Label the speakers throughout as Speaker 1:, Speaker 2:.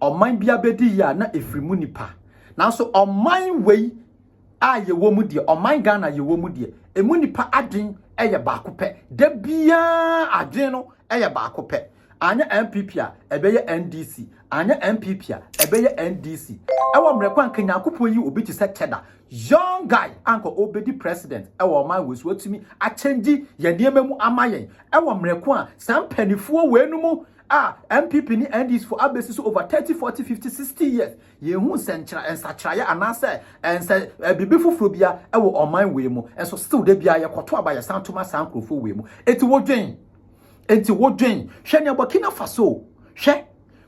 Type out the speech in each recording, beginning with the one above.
Speaker 1: ɔman biara bɛdi yie a na ɛfiri mu nnipa. Nanso ɔman wei a yɛwɔ mu deɛ, ɔman Ghana yɛwɔ mu deɛ, ɛmu nnipa adwen yɛ baako pɛ. Da biara adwen no yɛ baako pɛ. Anyɛ NPP a, ɛbɛyɛ NDC. Anyɛ NPP a, ɛbɛyɛ NDC. Ɛwɔ mmerɛ kwan ka Nyankopɔn yi obi te sɛ Cheda. Young guy anka ɔbɛdi president ɛwɔ ɔman wei so. Watumi akyɛngyi yɛn nneɛma mu ama yɛn. Ɛwɔ mmerɛ ko a saa mpanifoɔ wei no mu a NPP ne NDC fo abesi so over 30, 40, 50, 60 years, yɛnhu nsɛnkyerɛ, nsakyeraeɛ anaasɛ ɛnsɛ biribi foforɔ bia ɛwɔ ɔman wei mu, nso still da biara yɛkɔto aba yɛsan to ma saa nkurɔfoɔ wei mu. Eti wodwen, eti wodwen, hwɛ nea Burkina Faso, hwɛ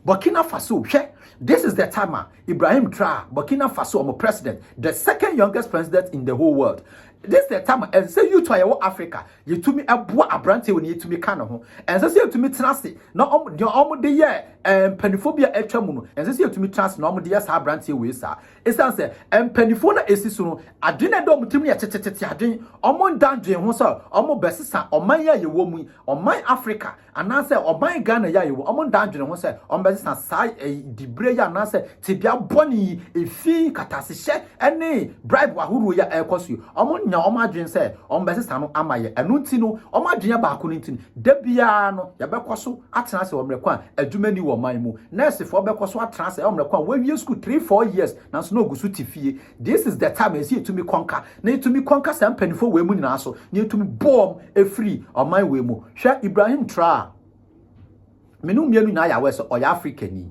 Speaker 1: Burkina Faso, hwɛ, this is the time a Ibrahim Traore, Burkina Faso, ɔmo president, the second youngest president in the whole world, This the time a ɛnsɛ youth a yɛwɔ Africa yɛtumi boa aberanteɛ wɔ ne yɛtumi ka ne ho. Ɛnsɛ sɛ yɛtumi tena ase na deɛ wɔn de yɛ eh, mpanimfoɔ bi a atwa mu no, ɛnsɛ sɛ yɛtumi tena ase na wɔn de yɛ saa aberanteɛ wei saa. Ɛsiane sɛ mpanimfoɔ na ɛsi so no, adwene ɛda wɔn tirim yɛ tetetete adwene. Wɔn nda adwene ho sɛ wɔn bɛsesa ɔman yi a yɛwɔ mu yi, ɔman Africa. anaasɛ ɔban Ghana yi a yɛwɔ, wɔn ndaa adwene ho sɛ wɔbɛsesa saa diberɛ yi anaasɛ tebea bɔne yi, efi katasehyɛ ne bribe ahoroɔ yi a ɛrekɔ so yi, wɔnnya wɔn adwene sɛ wɔbɛsesa no ama yɛn. Ɛno nti no, wɔn adwene yɛ baako no nti no, da biara no yɛbɛkɔ so atena ase wɔ mmerɛ ko a adwuma nni wɔ ɔman mu. Nɛɛsefoɔ bɛkɔ so atena ase wɔ mmerɛ ko a wɔawie sukuu three, four years nanso na wɔgu so te fie. This is the time ɛsɛ yɛtumi kɔnka na yɛtumi kɔnka saa mpanimfoɔ wei mu nyinaa so na yɛtumi bɔɔm ɛfiri ɔman wei mu hwɛ Ibrahim Traore me no mmienu nyinaa yɛ awɛ sɛ ɔyɛ Afrikani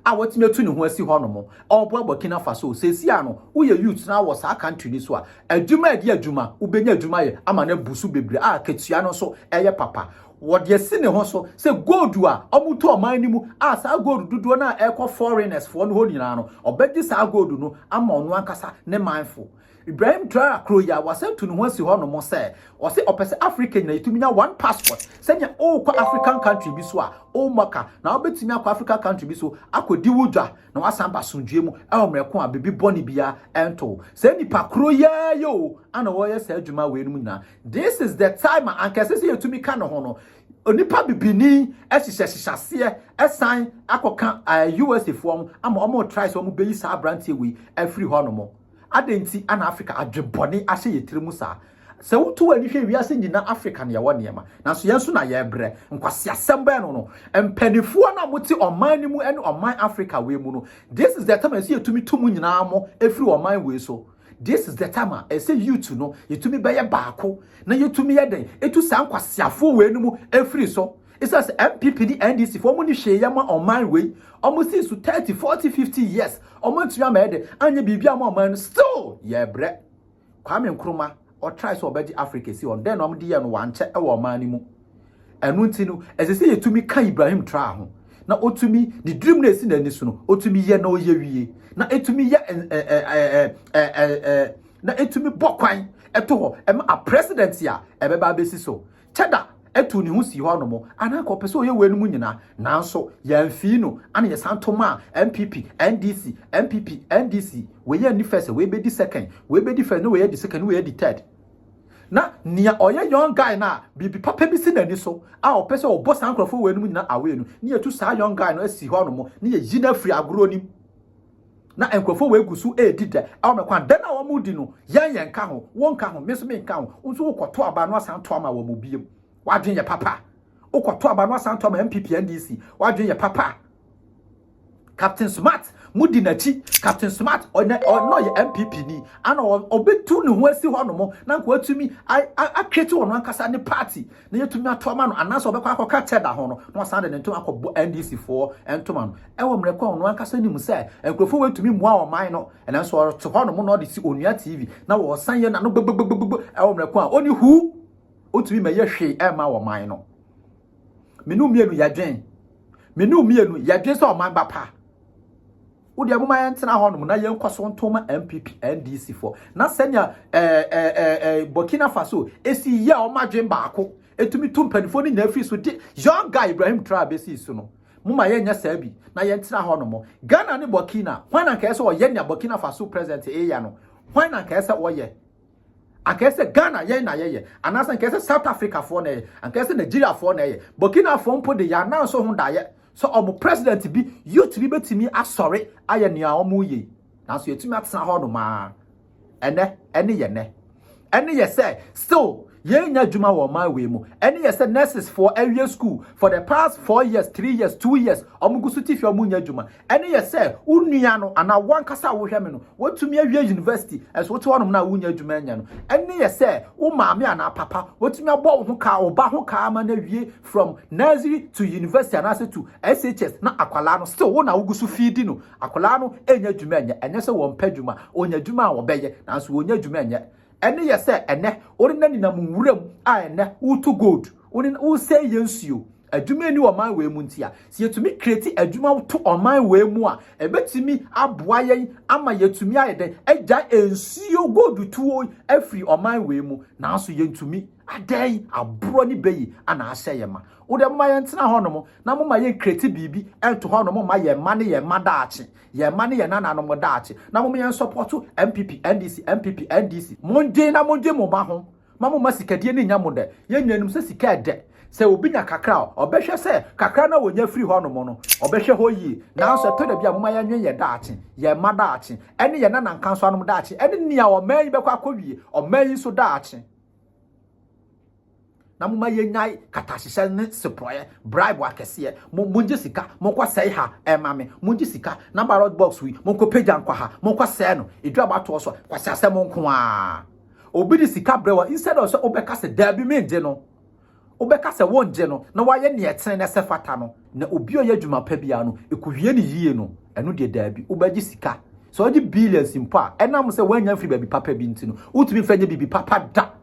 Speaker 1: a watumi atu ne ho asi hɔ nom ɔboa Burkina Faso sɛsi a no woyɛ youth na wɔ saa country ni so a adwuma ɛde adwuma wobɛnya adwuma yɛ ama no abu so bebree a katua no nso ɛyɛ papa Wɔde asi ne ho so sɛ gold a wɔtɔ ɔman no mu a saa gold dodoɔ no a ɛrekɔ foreigners foɔ no hɔ nyinaa no, ɔbɛgye saa gold no ama ɔno ankasa ne manfo. Ibrahim Traore kuro yi a wasan tu ne ho asi hɔ nom sɛ, ɔse ɔpɛ sɛ Africa nyinaa yɛtumi nya one passport sɛnea worekɔ African country bi so a, wo maka na wobɛtumi akɔ Africa country bi so akɔdi wo dwa na wasan aba asomdwoeɛ mu wɔ mmerɛ ko a biribi bɔne biara ɛnto wo. Saa nipa koro yi ara yi o ana wɔyɛ saa adwuma wei nom nyinaa. This is the time a anka ɛsɛ sɛ yɛtumi ka ne ho no. Onipa bibini hyehyɛ hyehyɛseɛ san akɔka USA foɔ ho ama wɔn try sɛ wɔn bɛyi saa aberanteɛ wei afiri hɔ nom. Adɛn nti ana Africa adwebɔne ahyɛ yɛ tiri mu saa? Sɛ wotu w'ani hwɛ wiase nyinaa Africa na yɛwɔ nneɛma nanso yɛn nso na yɛbrɛ. Nkwaseasɛm bɛn no no mpaninfoɔ no a mote ɔman no mu ne ɔman Africa wei mu no this is the time a ɛsɛ yɛtumi tu mu nyinaa mo ɛfiri ɔman wei so. This is the time a ɛsɛ youth no yɛtumi bɛyɛ baako na yɛtumi yɛ dɛn ɛtu saa nkwaseafoɔ wei no mu ɛfiri so ɛsiane sɛ MPP ne NDC foɔ ɔmo ne hwee yɛ ma ɔman wei ɔmo sii so 30, 40, 50 years ɔmo antumi ama yɛ dɛn anyɛ biribi ama ɔman no still yɛbrɛ Kwame Nkrumah Ɔtrae sɛ ɔbɛgye Afrika asi hɔ no, dɛn na wɔde yɛɛ no? Wankyɛ wɔ ɔman no mu. Ɛno nti no, ɛsɛ sɛ yɛtumi ka Ibrahim Traore ho, na ɔtumi, ne dream no a ɛsi n'ani so no, ɔtumi yɛ na ɔyɛ wie, na ɛtumi yɛ na ɛtumi bɔ kwan ɛto hɔ ɛma a president a ɛbɛba abɛsi so. Teda tuu ne ho sii hɔ anom a na anka ɔpɛ sɛ ɔyɛ weinom nyinaa, nanso yɛamfii no a na yɛsan to maa NPP, NDC, NPP, NDC, wei anni first a wei bɛdi second, wei bɛdi first na wei adi second na wei adi third. Na nea ɔyɛ young guy no a biribi papa bi si n'ani so a ɔpɛ sɛ ɔbɔ saa nkurɔfoɔ weinom nyinaa away no, na yɛtu saa young guy no asi hɔ anom na yɛyi no afiri agorɔ no mu. na nkurɔfoɔ wei gu so redi dɛ wɔ me kwan dɛ no a wɔredi no yɛn yɛn nka ho wo nka ho me nso me nka ho wo nso wokɔto aba no asan to ama wɔn biom wadwen yɛ papa wokɔto aba no asan to ama MPP NDC wadwen yɛ papa Captain Smart mudi n'akyi Captain Smart ɔnɛ ɔnɔ yɛ MPP ni ana ɔbɛtu ne ho asi hɔ nom na nka watumi atwete wɔn ankasa ne party na yɛatumi ato ama no anaasɛ ɔbɛkɔ akɔka kyɛ da ho no na wasan de ne ntoma akɔbɔ NDC foɔ ntoma no ɛwɔ mmerɛ kɔ a ɔno ankasa nim sɛ nkurɔfoɔ wɔatumi mmoa ɔman no nanso ɔte hɔ nom na ɔde si onua TV na wɔsan yɛ n'ano gbogbogbogbo ɛwɔ mmerɛ kɔ a ɔni hu ɔntumi mɛyɛ hwee ɛma ɔman no menu mmienu yɛdwen menu mmienu yɛdwen sɛ ɔman ba pa Wo deɛ moma yɛntena hɔnom na yɛnkɔ so nto ma NPP, NDC foɔ. Na sɛnea ɛɛ ɛɛ ɛɛ Burkina Faso esi yɛ wɔn adwene baako, etumi tu mpanimfoɔ no nyinaa firi so de young guy Ibrahim Traore besi so no. Moma yɛnyɛ saa bi na yɛntena hɔnom. Ghana ne Burkina, hwan na nka ɛsɛ sɛ ɔyɛ nea Burkina Faso president yɛ no? Hwan na nka ɛsɛ sɛ ɔyɛ? Anka ɛyɛ sɛ Ghana yɛn na yɛyɛ, anaasɛ anka ɛyɛ sɛ South Africafoɔ na ɛyɛ, anka ɛyɛ sɛ Nigeriafoɔ na ɛyɛ. Burkinafoɔ mpo de yɛn anan so ho daeɛ sɛ wɔn president bi, youth bi bɛtumi asɔre ayɛ nea wɔreyɛ yi. Nanso yɛtumi atena hɔ nom ara. Ɛnɛ, ɛne yɛ nɛ. Ɛne yɛ sɛ still yɛnya adwuma wɔ ɔman wei mu. Ɛne yɛ sɛ nurses foɔ awie school for the past four years, three years, two years, wɔn gu so tifi wɔn nya adwuma. Ɛno yɛ sɛ wo nua no anaa wo ankasa a wohwɛ me no, woatumi awie yunivasiti, nso wote hɔnom na wunnya adwuma nyɛ no. Ɛno yɛ sɛ wo maame anaa papa, watumi abɔ wo ho kaa, wo ba ho kaa ama no awie from nursery to university anaasɛ to SHS, na akwadaa no still wo na wogu so fiidi no. Akwadaa no nnya adwuma nyɛ. Ɛnyɛ sɛ wɔmpɛ adwuma, wɔnya adwuma a wɔbɛyɛ, nanso wɔnnya adwuma nyɛ. Ɛno yɛ sɛ ɛnnɛ worena nenam nwura mu a ɛnnɛ woretu gold, worena, woresɛe yɛn nsuo. Adwuma nni ɔman wei mu nti a, sɛ yɛtumi create adwuma to ɔman wei mu a, ɛbɛtumi aboa yɛn ama yɛatumi ayɛ dɛn, agyae nsuo gold tuo yi afiri ɔman wei mu. Nanso yɛntumi. Adɛn? Aborɔ ne bɛ yi na ahyɛ yɛn ma. Wo deɛ momma yɛntena hɔnom na momma yɛn create biribi nto hɔnom mma yɛn mma ne yɛn mma daakye. Yɛn mma ne yɛn nananom daakye. Na mom yɛn sɔpɔto NPP, NDC, NPP, NDC. Mondwen na mondwen mo mma ho. Mma mo mma sikadie no nyɛ mo dɛ. Yɛn nyinaa nim sɛ sika ɛdɛ. Sɛ obi nya kakra a, ɔbɛhwɛ sɛ kakra no a ɔnya firi hɔ nom no, ɔbɛhwɛ hɔ yie. Nanso ɛtɔ da bi a, momma yɛnwen yɛn daakye, yɛn mma daakye, ɛne yɛn nanankansoanom daakye, ɛne nea ɔman yi bɛkɔ akɔwie, ɔman yi nso daakye. na moma yɛnyae katahyehyɛ ne seporɔeɛ bribe akɛseɛ mo mogye sika monkɔ sɛe ha ɛma me mogye sika na ballot box wi monkɔ pagya nkɔ ha monkɔ sɛe no ɛdu abatoɔ so kwasi asɛm nko a obi de sika brɛ wɔ instead of sɛ wobɛka sɛ daabi mengye no wobɛka sɛ wongye no na wayɛ neɛ ɛtene na ɛsɛ fata no na obi ɔyɛ adwuma pa biara no ɛkɔwie ne yie no ɛno deɛ daabi wobɛgye sika sɛ wogye billions mpo a ɛnam sɛ woanya mfiri baabi papa bi nti no wotumi mfa nyɛ biribi papa da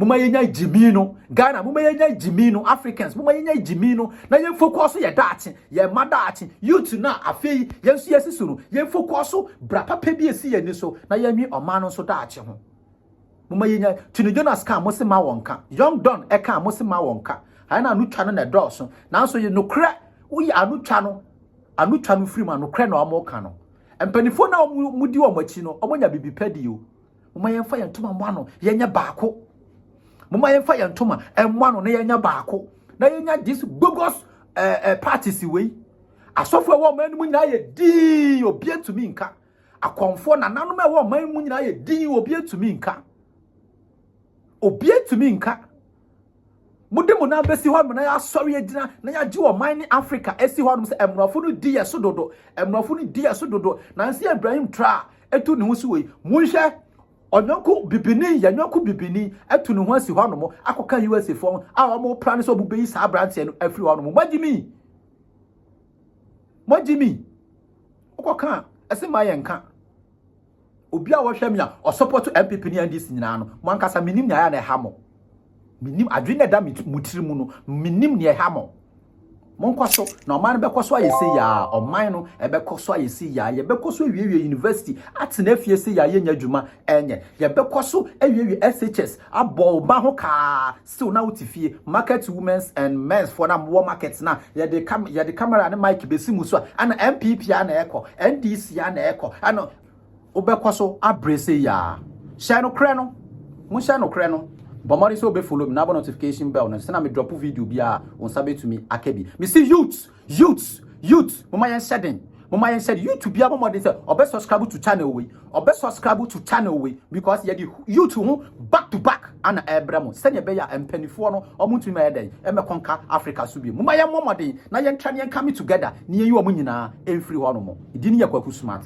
Speaker 1: moma yɛnya gyimi no ghana moma yɛnya gyimi no africans moma yɛnya gyimi no na yɛmfokɔ so yɛ daakye yɛ ma daakye youth no a afei yɛn nso yɛsi so no yɛmfokɔ so bra papa bi esi yɛn ni so na yɛnwe ɔman no nso daakye ho moma yɛnya tini jonas kan mo se ma wɔn ka young don ɛka mo se ma wɔn ka ayɛ na anotwa no na ɛdɔɔso nanso yɛ nokorɛ woyɛ anotwa no anotwa no firi mu anokorɛ na wɔn ka no mpanimfoɔ na wɔn di wɔn akyi no wɔn nya bibi pɛ di o moma yɛmfa yɛn ntoma mmɔ ano yɛnyɛ baako moma yɛmfa yɛn ntoma mmɔ ano na yɛnyɛ baako na yɛnya this bogus uh, eh, uh, eh, parties wei asɔfo ɛwɔ ɔman no mu nyinaa yɛ dii obi atumi nka akɔmfoɔ nananom ɛwɔ ɔman mu nyinaa yɛ dii obi atumi nka obi atumi nka Mode mo nan bɛsi hɔ nom na yɛasɔre agyina na yɛagye ɔman ne Africa asi hɔ nom sɛ mmorɔfo no di yɛ so dodo. Mmorɔfo no di yɛ so dodo. Nansi Ibrahim Tra ɛtu ne ho si wei. Monhwɛ ɔnyɔnko bibini, yɛ nyɔnko bibini ɛtu ne ho asi hɔ nom akɔka USA fo a wɔn pra ne sɛ wɔn bɛyi saa aberanteɛ no afiri hɔ nom. Moagye mi? Moagye mi? Wokɔka a, ɛse ma yɛnka. Obi a wɔhwɛ me a ɔsɔpɔto NPP ne NDC nyinaa no, mo ankasa menim nea ɛyɛ na ɛha mo. Menim adwene na ɛda mo tiri mu no, menim nea ɛha mo. Monkɔ so na ɔman no bɛkɔ so ayɛ se yaa, ɔman no ɛbɛkɔ so ayɛ se yaa, yɛbɛkɔ so awiewie university, atena afie se yaa yɛnya adwuma ɛnyɛ, yɛbɛkɔ so awiewie SHS, abɔ ɔba ho kaa Still na wote fie. Market women's and men's foɔ no a mowɔ market no a yɛde ka yɛde camera ne mic bɛsi mo so a ɛna NPP ara na ɛkɔ, NDC ara na ɛkɔ ɛna wobɛkɔ so abrɛ sei aa. Hyɛ nokorɛ no, mohyɛ nokorɛ no. Bɔ mmɔden sɛ wobɛ follow me na abɔ notification bell no sɛ na me drop video biara a wo nsa bɛtumi aka bi. Mese youths Youths youths momma yɛn hyɛ den momma yɛn hyɛ den youth bia bɔ mmɔden sɛ ɔbɛ subscribe to channel wei ɔbɛ subscribe to channel wei because yɛ di youth ho back to back ana ɛbrɛ mo sɛnea ɛbɛyɛ a mpanimfoɔ no ɔmo ntumi ma yɛ dɛn ɛmɛ kɔnka Africa so bi momma yɛn mmɔ mmɔden na yɛn tra ne yɛn kame together ne yɛn yi ɔmo nyinaa ɛmfiri hɔ nom di ne yɛ kwaku smart.